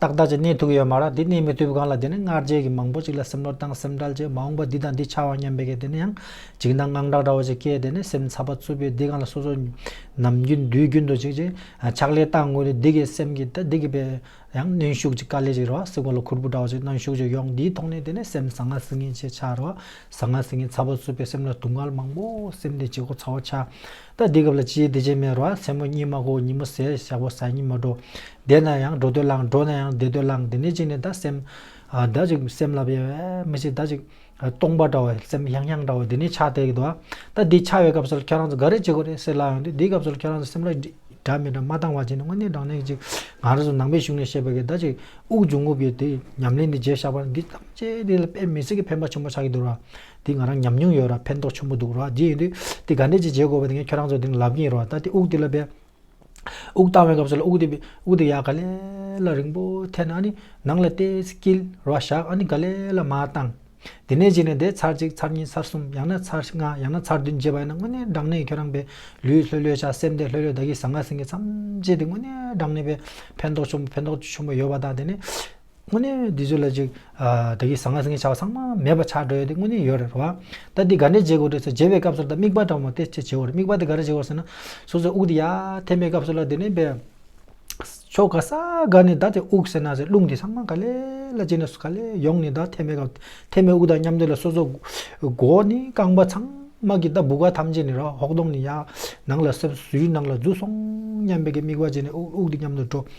ཏག་ཏག་ཅིག་གནས་ཐུབ་ཀྱི་ཡོད་མ་རེད་འདི་གནས་མི་ཐུབ་གང་ལ་དེ་ནི་སྔར་རྗེས་ཀྱི་མང་པོ་ཞིག་ལ་སེམས་ནོར་དང་སེམས་ཁྲལ་བྱས་མ་འོངས་པ་འདི་དང་འདི་ཆགས་ཨང་སྙམ་པའི་སྐད་དེ་ནི་ཡང་འཇིགས་སྣང་དངངས་སྐྲག་འདྲ་བོ་ཞིག་སྐྱེས་དེ་ནི་སེམས་འཚབ་པ་རྩུབ་པོས་འདི་གང་ལ་སོ་སོ་ནམ་རྒྱུན་དུས་རྒྱུན་དུ་ཅིག་ཅིག་ཕྱག་ལས་བཏང་དགོས་ཏེ་འདི་གའི་སེམས་ཀྱི་ད་འདི་གི་པའི་ཡང་གནོན་ཤུགས་ཅིག་དཀའ་ལས་ཅིག་རེད་བ་སྲིད་གོ་ལ་ཁུར་པོ་འདྲ་བོ་ཞིག་གནོན་ཤུགས་ཅིག་ཡོང་འདིའི་ཐོག་ནས་དེ་ནི་སེམས་བཟང་ངག་སྲིད་ངན་ཆེ་ཆགས་རེད་བ་བཟང་ངག་སྲིད་ངན་འཚབ་པོ་རྩུབ་པོས་སེམས་ལ་དུང་དཀར་མང་པོ་སེམས་དེ་ཇེ་ཁོག་ཚ་བོ་ཆགས་ད་འདི་སྐབས་ལ་ཅིའི་བདེ་སྐྱིད་མེད་རེད་བ་མཚན་མོ་གཉིད་མ་གོ་ཉིན་མོ་ཟས་ཞག་པོ་ཟ་གཉིད་མ་འགྲོ་བསྡད་ན་ཡང་འགྲོ་འདོད་ལངས་འགྲོ་ན་ཡང་བསྡད་འདོད་ལངས་དེ་ནས་གཅིག་ནས་ད་སེམས། ད་ཅིག་སེམས་ལ་བས་མི་ཤེས་ད་ཅིག་སྟོང་པ་འདྲ་བ་སེམས་ཡང་ཡང་འདྲ་བ་དེ་ནས་ཆགས་དེ་གདོ་ད་འདི་ཆགས་པའི་སྐབས་སུ་ཁྱོད་རང་ཚོ་ག་རེ་བྱེད་དགོས་རེད་སེ་ལ་ཡོང་དུས་འདིའི་སྐབས་སུ་ཁྱོད་རང་ཚོ་སེམས་ལ་དྲ་མི་དྲ་མ་ལྡང་བ་བྱས་ནས་དངོས་གནས་དྲང་གནས་ཅིག་ང་རང་ཚོ་ནང་པའི་གཞུང་ནས་བཤད་པ་གིས་ད་ཅིག་དབུགས་འབྱུང་ངུ་བའི་དེ་ཉམས་ལེན་འདི་བརྗེད་བཞག་པ་འདི་ཐམས་ཅད་འདི་ལ་དཔེ་མི་སྲིད་ཀི་ཕན་པ་ཆེན་པོ་ཆགས་ཀྱི་འདུག་ར་འདི་ང་རང་ཉམས་མྱོང་ཡོད་ར་ཕན་ཐོགས་ཆེན་པོ་འདུག་ར་འདི་ཡིན་དུས་འདི་ག་འདྲས་ཅིག་བྱེད་དགོས་པ་དེ་ཁྱོད་རང་ཚོ་དེ་ལབ་ཀྱིན་ཡོད་ར་ད་དེ་དབུགས་འདི་ལ་བས་དབུགས་བཏང་བའི་སྐབས་སུ་ལ་དབུགས་རྡེབ་པའི་དབུགས་དེ་ཡང་ག་ལེ་ལ་རིང་པོ་ཐལ་ནས་ཨ་ནི་ནང་ལ་ལྟས་བསྐྱིལ་རོ་བཞག་ཨ་ནི་ག་ལེ་ལ་མ་བཏང། དེ་ནས་གཞིགས་ནས་དེ་ཚར་གཅིག་ཚར་གཉིས་ཚར་གསུམ་ཡང་ན་ཚར་ལྔ་ཡང་ན་ཚར་བདུན་བརྗེས་པ་ཡིན་ན་དངོས་གནས་སྦྲང་ནད་ཁྱོད་རང་པའི་ལུས་ལྷོད་ལྷོད་བྱ་སེམས་དེ་ལྷོད་ལྷོད་བདག་གིས་བཟང་ངག་ཟིན་གྱི་མཚམས་བཅད་དེ་དངོས་གནས་སྦྲང་ནད་པའི་ཕན་ཐོགས་ཆུང་ཕན་ཐོགས་ཆུང་པོ་ཡོད་པ་དང་དེ་ནས། དངོས་གནས་འདི་ཚོ་ལ་ཅིག། བདག་གིས་བཟང་ངན་སེང་གེ་བྱ་བ་ཚང་མ་མེད་པ་ཆགས་འགྲོ་ཡོད་དེ་དངོས་གནས་ཡོད་རེད་རེད་བ། ད་འདི་ག་འདྲས་འཇལ་དགོས་འདྲས་ཚོ་འཇལ་བའི་སྐབས་སུ་ད་དམིགས་པ་དྲང་མོ་དེ་ཅི་བྱེད་འོ་རེད་དམིགས་པ་དེ་ག་རེ་བྱེད་འོ་ཟེར་ན། སོ་སོའི་དབུགས་དེ་ཡར་འཐེན་པའི་སྐབས་སུ་ལ་དེ་ནས་བས། ཕྱོགས་ག་ས་ག་ནས་ད་དེ་དབུགས་ཟེར་ན་ཟེར་རླུང་དེ་ཚང་མ་ག་ལེ་ལ་བྱེད་ནས་སུ་ག་ལེ་ཡོང་ནས་ད་འཐེན་པའི་སྐབས་འཐེན་པའི་དབུགས་དང་མཉམ་དེ་ལ་སོ་སོ། མགོ་བོ་ནས་རྐང་པ་ཚང་མ་གི་ད་སྦུ་ག་ཐམས་ཅད་ནས་རོ་ཧོག་གདོང་ནས་ཡར། ནང་ལ་སེབས་སུའི་ནང་ལ་འཛུལ་སོང་སྙམ་པའི་གི་དམིགས་པ་བྱས་ནས་དབུགས་དབུགས་དེ་མཉམ་དུ་འགྲོ།